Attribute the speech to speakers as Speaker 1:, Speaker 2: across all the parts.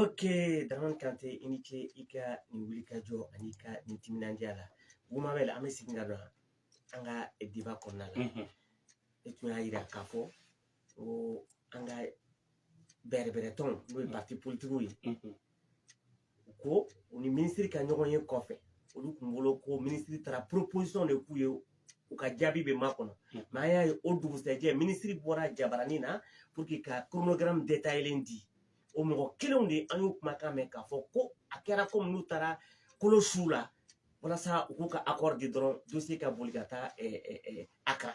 Speaker 1: Ok, Dramane Kanté i ni ce i ka nin wulikajɔ ani i ka nin timinandiya la Bumabɛli an bɛ segin ka don an ka débat kɔnɔna la e tun y'a jira k'a fɔ ko an ka bɛrɛbɛrɛtɔnw n'o ye pariti politikiw ye u ko u ni minisiri ka ɲɔgɔn ye kɔfɛ olu kun bolo ko minisiri taara proposition de k'u ye u ka jaabi bɛ makɔnɔ mɛ an y'a ye o dugusɛjɛ minisiri bɔra jabaranin na pour que ka kronogaramu detayelen di o mɔgɔ kelenw de an y'u kumakan mɛn k'a fɔ ko a kɛra komi n'u taara kolo su la walasa u k'u ka akɔri di dɔrɔn dossier ka boli ka taa Accra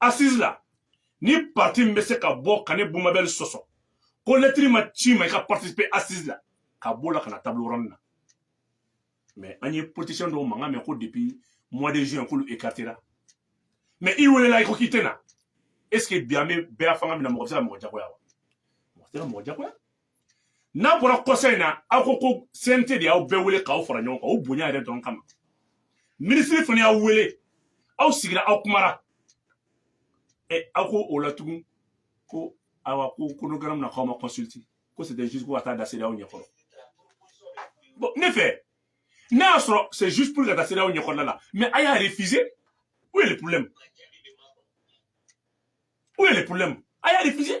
Speaker 2: assise la ni parti min bɛ se ka bɔ ka ne bumabɛli sɔsɔ ko lɛtiri ma ci a ma i ka participer assise la ka b'o la ka na table ronde na mais an ye politicien dɔw mankan mɛn ko depuis mois de juin k'olu écartera mais i welela i ko k'i tɛ na est ce que bi an bɛ bɛɛya fanga min na mɔgɔ bɛ se ka mɔgɔ jagoya wa mɔgɔ tɛ se ka mɔgɔ jagoya n'a bɔra kɔsa in na aw ko ko cnt de y'aw bɛɛ wele k'aw fara ɲɔgɔn kan o bonya yɛrɛ dɔrɔn kama minisiri fana y'aw wele aw sigira aw kumara ɛ aw ko o la tugun ko awa ko chronogramme na k'aw ma consulter ko c'était juste pour ka taa a da cedeao ɲɛkɔrɔ bon ne fɛ n'a y'a sɔrɔ c'est juste pour ka taa cedeao ɲɛkɔrɔla la mais a y'a refuser où est le problème où est le problème a y'a refuser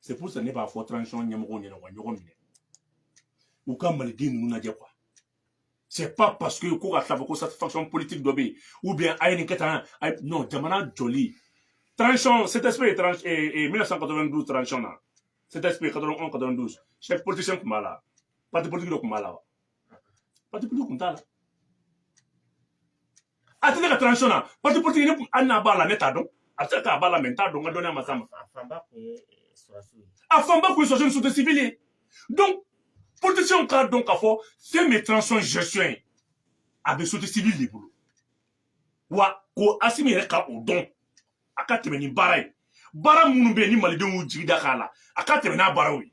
Speaker 2: c'est pour ça ne b'a fɔ transition ɲɛmɔgɔw ɲɛna u ka ɲɔgɔn minɛ u ka maliden ninnu lajɛ quoi c'est pas parce que ko ka tila fɔ ko satisfaction politique dɔ bɛ yen ou bien a ye nin kɛ tan non jamana jɔli transition ctsp 1992 transition na ctsp 91 92 chef politicien tun b'a la parti politique dɔ tun b'a la wa parti politique tun t'a la att ka transition na parti politique ne hali n'a b'a la ne t'a dɔn a bɛ se k'a b'a la mɛ n t'a dɔn n ka dɔnniya ma s'a ma a fanba kun ye sɔrɔdasiw ni société civile ye donc politicienw k'a dɔn k'a fɔ fɛn min ye transition gestion ye a bɛ société civile de bolo wa ko asimi yɛrɛ ka o dɔn a ka tɛmɛ ni baara ye baara minnu bɛ yen ni malidenw y'u jigi da k'a la a ka tɛmɛ n'a baaraw ye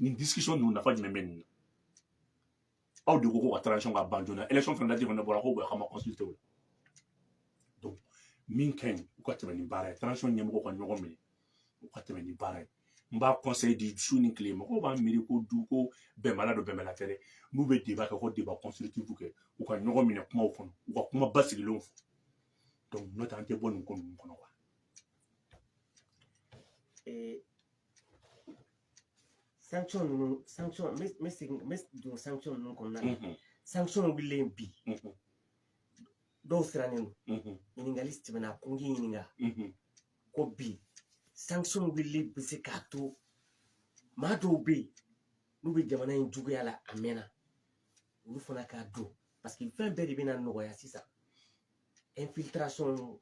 Speaker 2: nin discussion ninnu nafa jumɛn bɛ nin na aw de ko ko ka transition ka ban joona élection fana dati fana bɔra ko bon k'aw ma consulter o la donc min ka ɲi u ka tɛmɛ ni baara ye transition ɲɛmɔgɔw ka ɲɔgɔn minɛ u ka tɛmɛ ni baara ye n b'a conseil di su ni tile mɔgɔw b'a miiri ko du ko bɛnbala don bɛnbala tɛ dɛ n'u bɛ débat kɛ ko débat constructif kɛ u ka ɲɔgɔn minɛ kumaw kɔnɔ u ka kuma basigilenw fɔ donc n'o tɛ an tɛ bɔ nin ko ninnu kɔnɔ wa
Speaker 1: Eh, sanction ninnu sanction n bɛ n bɛ segin n bɛ don sanction ninnu kɔnɔna na mhm. sanction wulilen bi mhm. dɔw sirannen don mhm. ɲininkali tɛmɛna ko n k'i ɲininka ko bi sanction wulili bɛ se k'a to maa dɔw bɛ yen n'u bɛ jamana in juguya la a mɛnna olu fana ka don parce que fɛn bɛɛ de bɛna nɔgɔya sisan infiltration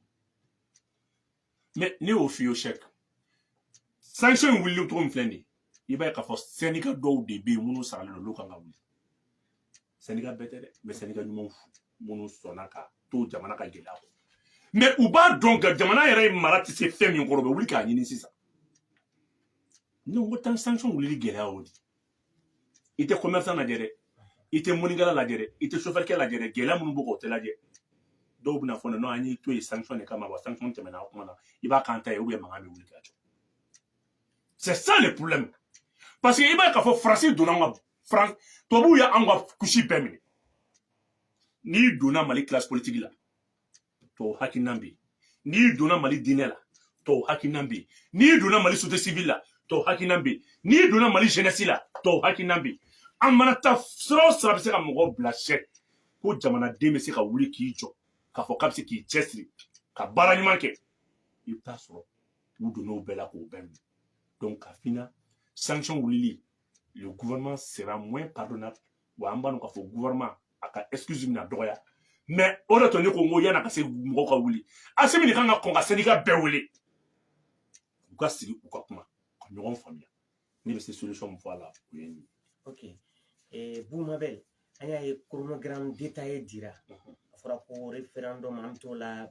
Speaker 2: mais ne y'o f'i ye cheick sanction in wulili cogo min filɛ nin ye i b'a ye k'a fɔ syndicat dɔw de bɛ yen minnu saralen don olu kan ka wuli syndicat bɛɛ tɛ dɛ mais syndicat ɲumanw minnu sɔnna ka to jamana ka gɛlɛya kɔnɔ mais u b'a dɔn ka jamana yɛrɛ mara tɛ se fɛn min kɔrɔ u bɛ wuli k'a ɲini sisan ne ko tan sanction wulili gɛlɛya o de i tɛ commerçant lajɛ dɛ i tɛ mɔnikɛla lajɛ dɛ i tɛ sofɛrikɛ lajɛ dɛ gɛlɛya minnu b'o kan o tɛ lajɛ dɔw bɛna fɔ non an y'i to yen sanction de kama wa sanction tɛmɛna a kuma na i b'a k'an ta ye ou bien mankan bɛ wuli ka jɔ c'est ça le problème parce que i b'a ye k'a fɔ faransi donna an ka faran tubabuw ye an ka couche bɛɛ minɛ n'i donna mali classe politique la tɔw hakilinan bɛ yen n'i donna mali diinɛ la tɔw hakilinan bɛ yen n'i donna mali société civile la tɔw hakilinan bɛ yen n'i donna mali jeunesse la tɔw hakilinan bɛ yen an mana taa sira o sira bɛ se ka mɔgɔ bila cheick ko jamanaden bɛ se ka wuli k'i jɔ k'a fɔ k'a bɛ se k'i cɛsiri ka baara ɲuman kɛ i bɛ taa sɔrɔ u donn'o bɛɛ la k'o bɛɛ minɛ donc k'a f'i ɲɛna sanction wulili le gouvernement sera moins pardonnable wa an b'a dɔn k'a fɔ gouvernement a ka excuse bɛna dɔgɔya mais o de to ne ko n ko yan'a ka se mɔgɔw ka wuli asimi de kan ka kɔn ka syndicat bɛɛ wele u ka sigi u ka kuma ka ɲɔgɔn faamuya ne bɛ se solution min fɔ a la o ye nin ye ok
Speaker 1: eh, bumabel an y'a ye chronogramme détaillé dira a fɔra ko référendum an bɛ t'o la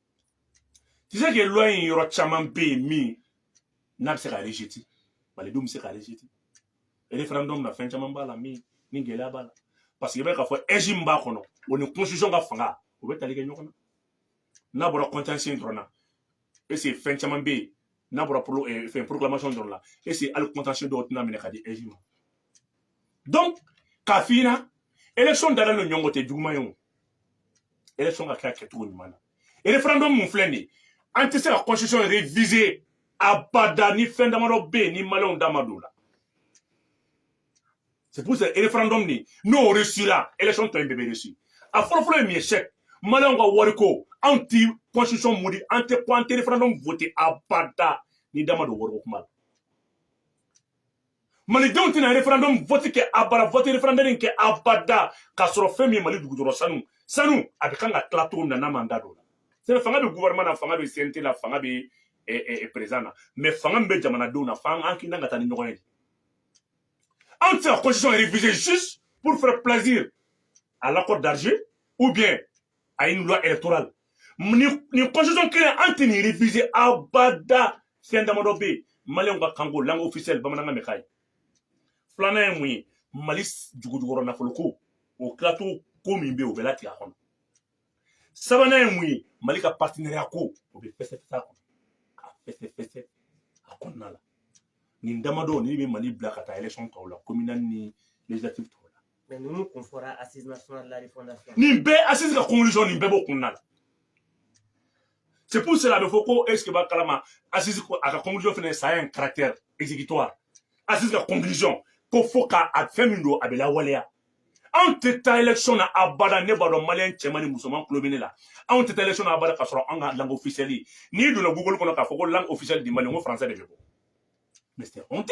Speaker 2: tu sais que loi in yɔrɔ caman bɛ yen min n'a bɛ se ka rejeter malidenw bɛ se ka rejeter référendum na fɛn caman b'a la min ni gɛlɛya b'a la parce que i b'a ye k'a fɔ AIGE min b'a kɔnɔ o ni constitution ka fanga o bɛ tali kɛ ɲɔgɔn na n'a bɔra contentieux in dɔrɔn na est ce que fɛn caman bɛ yen n'a bɔra fɛn proclamation dɔrɔn la est ce que hali contentieux dɔw tɛna minɛ ka di AIGE ma donc k'a f'i ɲɛna élection dalen don ɲɔgɔn tɛ juguman ye o élection ka kɛ a kɛcogo ɲuman na référendum min filɛ nin ye an tɛ se ka constitution réviser abada ni fɛn damadɔ bɛ yen ni maliyɛnw da ma don o la c'est pour ça référendum nin n'o réussira élection tɔ in bɛɛ bɛ réussir a fɔlɔfɔlɔ ye min ye cheick maliyɛnw ka wariko anw ti constitution modi an tɛ référendum voter abada ni da ma don wariko kuma la malidenw tɛna referendum vote kɛ abada vote referendum kɛ abada k'a sɔrɔ fɛn min ye mali dugujɔrɔ sanu sanu a bɛ kan ka tila cogo min na n'a man da don o la c'est fanga bɛ gouvernement na fanga bɛ cnt la fanga bɛ président na mais fanga min bɛ jamanadenw na f'an an kinna ka taa ni ɲɔgɔn ye anw tɛ se ka constitution réviser juste pour faire plaisir à l'accord d'Alger ou bien a ye nin loi électorale nin nin constitution kelen an tɛ nin réviser abada fɛn damadɔ bɛ yen maliyɛnw ka kanko langue officielle bamanankan bɛ k'a ye filanan ye mun ye mali dugujukɔrɔ nafoloko o tilacogo ko min bɛ yen o bɛ latigɛ a kɔnɔ sabanan ye mun ye mali ka partenariat ko o bɛ fɛsɛfɛsɛ a kɔnɔ ka fɛsɛfɛsɛ a kɔnɔna la nin damadɔ ni bɛ mali bila ka taa élection tɔw la communal ni législative tɔw la ninnu kun
Speaker 1: fɔra assise nationale de la refondation nin bɛɛ assise
Speaker 2: ka conclusion nin bɛɛ b'o kɔnɔna la c'est pour cela a bɛ fɔ ko est ce que b'a kalama assise a ka conclusion fana ça a un caractère exécutoire assise ka conclusion ko fo ka a fɛn min don a bɛ lawaleya anw tɛ taa élection na abada ne b'a dɔn maliyɛn cɛman ni musoman tulo bɛ ne la anw tɛ taa élection na abada k'a sɔrɔ an ka langue officielle ye n'i donna google kɔnɔ k'a fɔ ko langue officielle du mali n ko français de bɛ bɔ mais c'est honte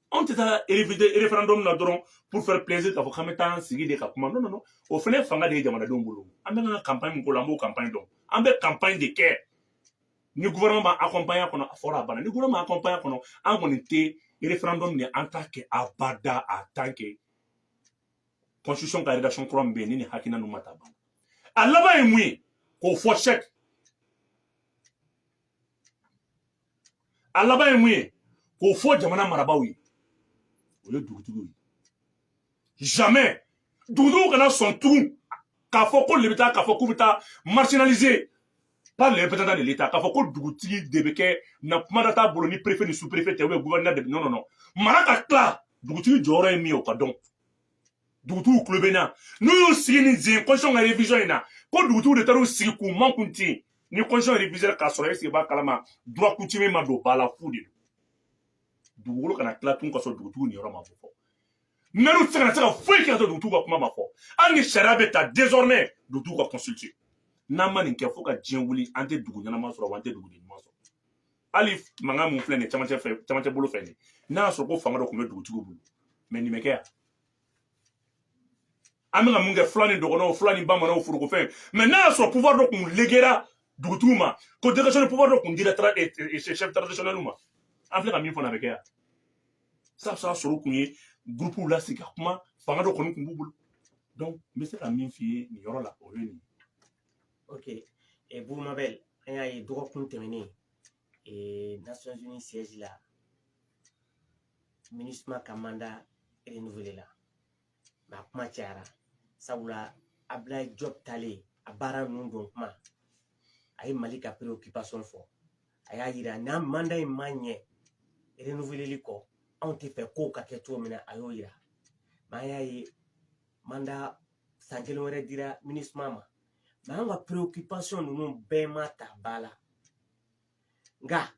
Speaker 2: anw tɛ taa referendum na dɔrɔn pour faire plaisir k'a fɔ k'an bɛ taa an sigi de ka kuma non non o fana ye fanga de ye jamanadenw bolo an bɛ ka campagne min k'o la an b'o campagne dɔn an bɛ campagne de kɛ ni gouvernement b'a accompagner kɔnɔ a fɔra a banna ni gouvernement ma accompagner kɔnɔ an kɔni tɛ referendum ni an t'a kɛ abada a tant que constitution ka rédaction kura min bɛ yen ni nin hakilina ninnu ma ta ban a laban ye mun ye k'o fɔ sɛki a laban ye mun ye k'o fɔ jamana marabaaw ye o ye dugutigiw ye jamais dugutigiw kana sɔn tugun k'a fɔ k'olu bɛ taa k'a fɔ k'u bɛ taa marginaliser par les représentants de l'État k'a fɔ ko dugutigi de bɛ kɛ na kumada t'a bolo ni préfet ni sous-préfet tɛ ou bien gouverneur de non non non mara ka tila dugutigi jɔyɔrɔ ye min ye o ka dɔn dugutigiw tulo bɛ na n'u y'u sigi ni zen constitution ka revision in na ko dugutigiw de taara u sigi k'u makun ten ni constitution reviser k'a sɔrɔ est ce que b'a kalama droit coutumier ma don ba la fu de don dugukolo kana tila tun ka sɔrɔ dugutigiw niyɔrɔ ma fɔ mɛriw tɛ se kana se ka foyi kɛ ka sɔrɔ dugutigiw ka kuma ma fɔ hali ni sariya bɛ ta désormais dugutigiw ka consulter n'an ma nin kɛ fo ka diɲɛ wuli an tɛ dugu ɲɛnama sɔrɔ wa an tɛ dugu ɲuman sɔrɔ hali mankan min filɛ nin ye camancɛ fɛ camancɛ bolo fɛ nin n'a y'a sɔrɔ ko fanga dɔ tun bɛ dugutigiw bolo mais nin bɛ kɛ yan an bɛka mun kɛ fula ni dɔgɔnɔw fula ni bamananw forokofɛn mais n'a y'a sɔrɔ pouvoir dɔ kun legera dugutigiw ma ko délégation de pouvoir dɔ kun dira eh, eh, eh, chef traditionnel ma an filɛ ka min fɔ n'a bɛ kɛ yan sa bɛ se ka sɔrɔ kun ye gurupuw lasigi ka kuma fanga dɔ kɔni kun b'u bolo donc n bɛ se ka min f'i ye nin yɔrɔ la o ye nin ye ok
Speaker 1: Boubou Mabel an y'a ye dɔgɔkun tɛmɛnen nations unies siège la minisuma ka mandat renouvelé la mais a kuma cayara sabula abdoulaye diop taalen a baara ninnu don kuma a ye mali ka préoccupation fɔ a y'a yira n'a mandat in ma ɲɛ renouveleli kɔ anw tɛ fɛ kow ka kɛ cogo min na a y'o yira mais an y'a ye mandat san kelen wɛrɛ dira minisuma ma mais an ka préoccupation ninnu bɛɛ ma ta ba la nka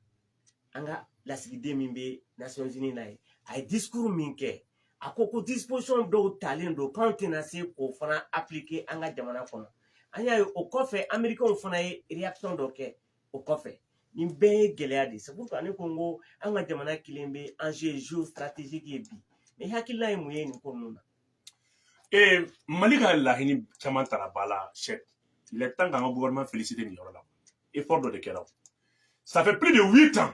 Speaker 1: an ka lasigiden min bɛ Nations Unies na yen a ye discours min kɛ a ko ko disposition dɔw talen don k'anw tɛna se k'o fana appliquer an ka jamana kɔnɔ an y'a ye o kɔfɛ amerikɛnw fana ye réaction dɔ kɛ o kɔfɛ nin bɛɛ ye gɛlɛya de ye c'est pourquoi ne ko n ko an ka jamana kɛlen bɛ enjeu géostratégique ye bi mais i hakilina ye mun ye nin ko ninnu na. ee
Speaker 2: mali ka laɲini caman tara ba la c'est le temps k'an ka gouvernement féliciter nin yɔrɔ la effort dɔ de kɛra ça fait plus de huit ans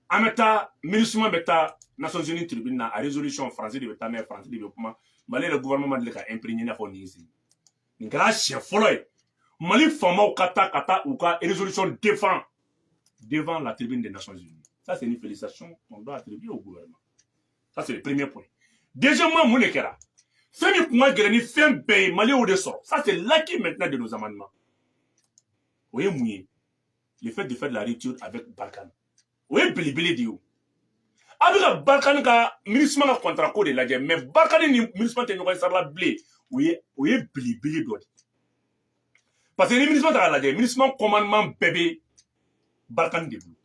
Speaker 2: an bɛ taa minisuma bɛ taa nations unies tribune na a résolution faransi de bɛ taa n'a ye faransi de bɛ kuma mali yɛrɛ gouvernement ma deli ka imprégner i n'a fɔ nin si nin kɛra siɲɛ fɔlɔ ye mali faamaw ka taa ka taa u ka résolution défend devant la tribune des nations unies ça c'est une félicitation on doit attribuer au gouvernement ça c'est le premier point deuxièmement mun de kɛra fɛn min kun ka gɛlɛn ni fɛn bɛɛ ye mali y'o de sɔrɔ ça c'est l'acquis maintenant de nos amendements o ye mun ye le fait de faire de la rupture avec barikani o ye belebele de ye o a bɛ ka barikani ka minisima ka contrat ko de lajɛ mais barikani ni minisima tɛ ɲɔgɔn ye sarala bilen o ye belebele dɔ de ye parce que ni minisma ta k'a lajɛ minisma commandement bɛɛ bɛ barikani de bolo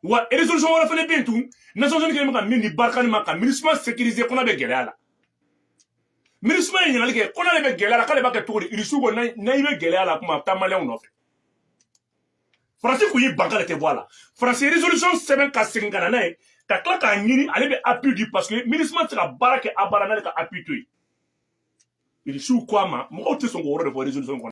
Speaker 2: wa résolution wɛrɛ fana bɛ yen tun nations unies kɛlen bɛ ka min di barikani ma ka minisma sécuriser ko n'a bɛ gɛlɛya la minisma ye ɲininkali kɛ ko n'ale bɛ gɛlɛya la k'ale b'a kɛ cogo di irisiw ko n'i bɛ gɛlɛya la kuma a bɛ taa maliyɛnw nɔfɛ faransi tun y'i ban k'ale tɛ bɔ a la faransi résolution sɛbɛn ka segin ka na n'a ye ka tila k'a ɲini ale bɛ appui di parce que minisma tɛ se ka baara kɛ abada n'ale ka appui tɛ yen irisiw ko a ma mɔgɔw tɛ sɔn k'o yɔrɔ de fɔ résolution kɔnɔ